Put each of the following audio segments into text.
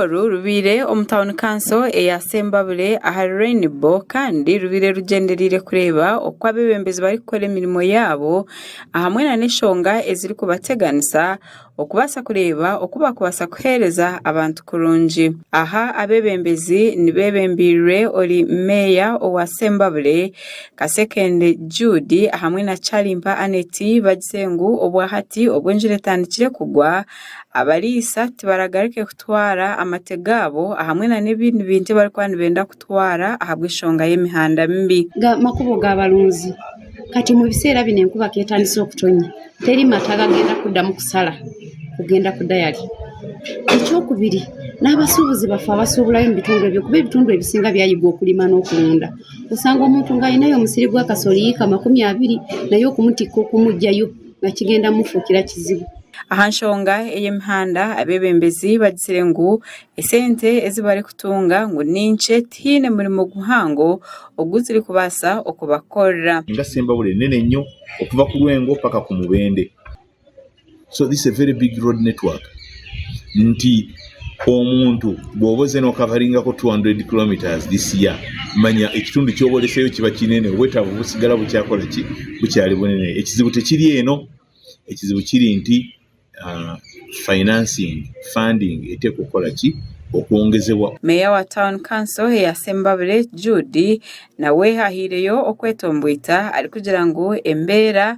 oru rubaire omu tauni kanso eya Sembabule ahari Rainbow kandi rubaire rugyendereire kureeba oku abeebembezi barikukora emirimo yaabo ahamwe na n'eshonga ezirikubateganisa okubaasa kureeba oku baakubaasa kuheereza abantu kurungi. Aha abeebembezi nibeebembeirwe ori meeya owa Sembabule Kasekende Jude hamwe na Kyarimpa Annet bagize ngu obwa hati obw'enjura etandikire kugwa. Abariisa tibaragaruke kutwara amate gaabo ahamwe na n'ebindi bintu ebi barikuba nibenda kutwara ahabw'eshonga y'emihanda mibi. Amakubo ga barunzi kati omu biseera binu enkuba ku etandise okutonya teri mate agagenda kuddamu kusara kugenda kudayari. Eky'okubiri n'abasubuzi bafe abasuburayo omu bitundu ebyo kuba ebitundu ebisinga byayigwa okurima n'okurunda. Oshanga omuntu ngu ayineyo omusiri gwa kasoli eka makumi abiri naye okumutikka okumujayo. bakigenda mufuukira kizibu. Aha nshonga ey'emihanda abebembezi bagitsire ngu esente ezi barikutunga ngu ni nkye tihaine murimo guhango ogu zirikubaasa okubakorera. Enga Sembabule nene nyo okuva ku Rwengo paka ku Mubende so this is a very big road network nti. Omuntu bwoba oze nokavaringa ko 200 kilometres this year manya ekitundu kyoba oreseyo kiba kinene obwetavu busigara bukyakora ki bukyari bunene ekizibu tekiri eno ekizibu kiri nti financing funding etekukora ki okwongezebwa. Meeya wa Town Council eya Sembabule Jude nawe ahireyo okwetomboita arikugira ngu embeera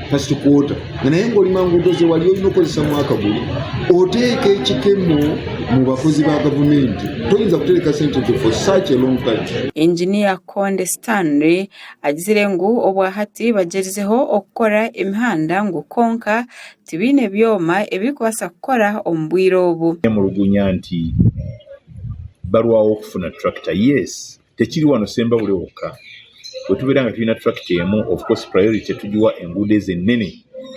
First quarter nga naye nga oli manguudo ze wali oyine okukozesamu akaguru oteeka ekikemo mu bakozi ba gavumenti toyinza kutereka sente ezo for such a long time. Engineer Konde Stanley agizire ngu obwahati bagyerizeho okukora emihanda ngu kwonka tibaine byoma ebirikubaasa kukora omu bwire obu. Yamulugunya nti, Barwaho kufuna tractor? Yes, Tekiri wano Sembaure wokka. Wetubeera nga twine attract emu, of course priority tugiwa enguudo ezo enene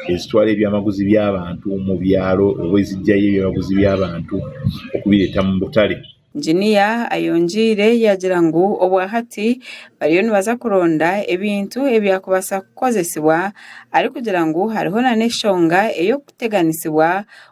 ezitwara ebyamaguzi by'abantu omu byaro oba ezijayo ebyamaguzi by'abantu okubireeta omu butare. Engineer ayongiire yagira ngu obwahati bariyo nibaza kuronda ebintu ebyakubaasa kukozesibwa arikugira ngu hariho nana eshonga ey'okuteganisibwa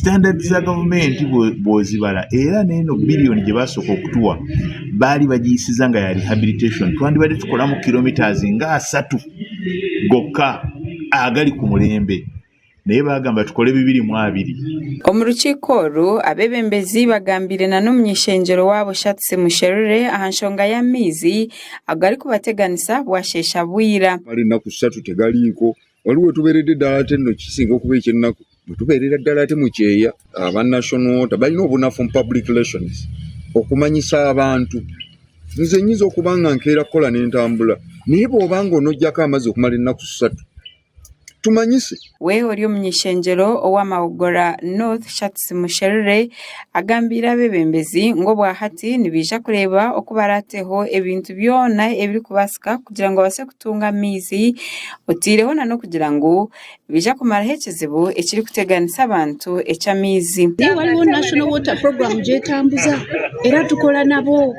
Standard za gavumenti bwozibara era neno billion gyebasoka okutuwa bari bagiyisiza nga ya rehabilitation twandibade tukoramu kilometres nga asatu goka agali kumulembe naye bagamba tukore bibiri mu abiri. Omu rukiiko oru, abebembezi bagambiire na n'omuny'ishengyero wabo Shartsi Musherure aha nshonga y'amaizi agarikubateganisa bwasheesha bwira. Kumara enaku shatu tegariiko Waliwo owetuberede dala ati enoki kisinga okuba ekyenaku owetuberera dala ati mukyeya aba national water balina obunafu omu public relations okumanyisa abantu nze nyinza okuba nga nkera kukola nentambula naye bwoba nga onojako amazi okumala enaku satu tumanyise. We ori omunyeshengyero owa Mawogola North Shartsi Musherure agambiire abebembezi ngu obwahati nibaija kureeba oku barateho ebintu byona ebirikubaasika kugira ngu babaase kutunga amaizi oteireho na n'okugira ngu nibaija kumaraho ekizibu ekirikuteganisa abantu eky'amaizi. Nainga waliwo National Water Program gyetambuza era tukora nabo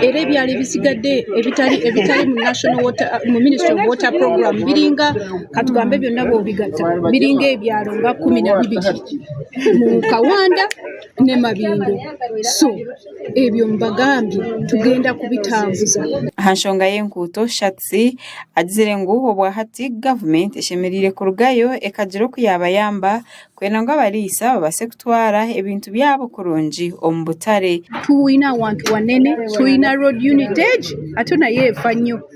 era ebyaro ebitsigadde ebitari ebitari mu National Water omu Ministry of Water Program biri nka katugambe byona bwobigata biri nka ebyaro nka kumi na bibiri mu Kawanda ne Mabingo so. Ebyo mbagambye tugenda kubitambuza. Aha nshonga y'enkuuto, Shatz agizire ngu obwahati gavumenti eshemereire kurugayo ekagira oku yaabayamba kwenda ngu abariisa babaase kutwara ebintu byabo kurungi omu butare. Twine awantu wanene, twine Road Unit egi ate nayo efa nyo.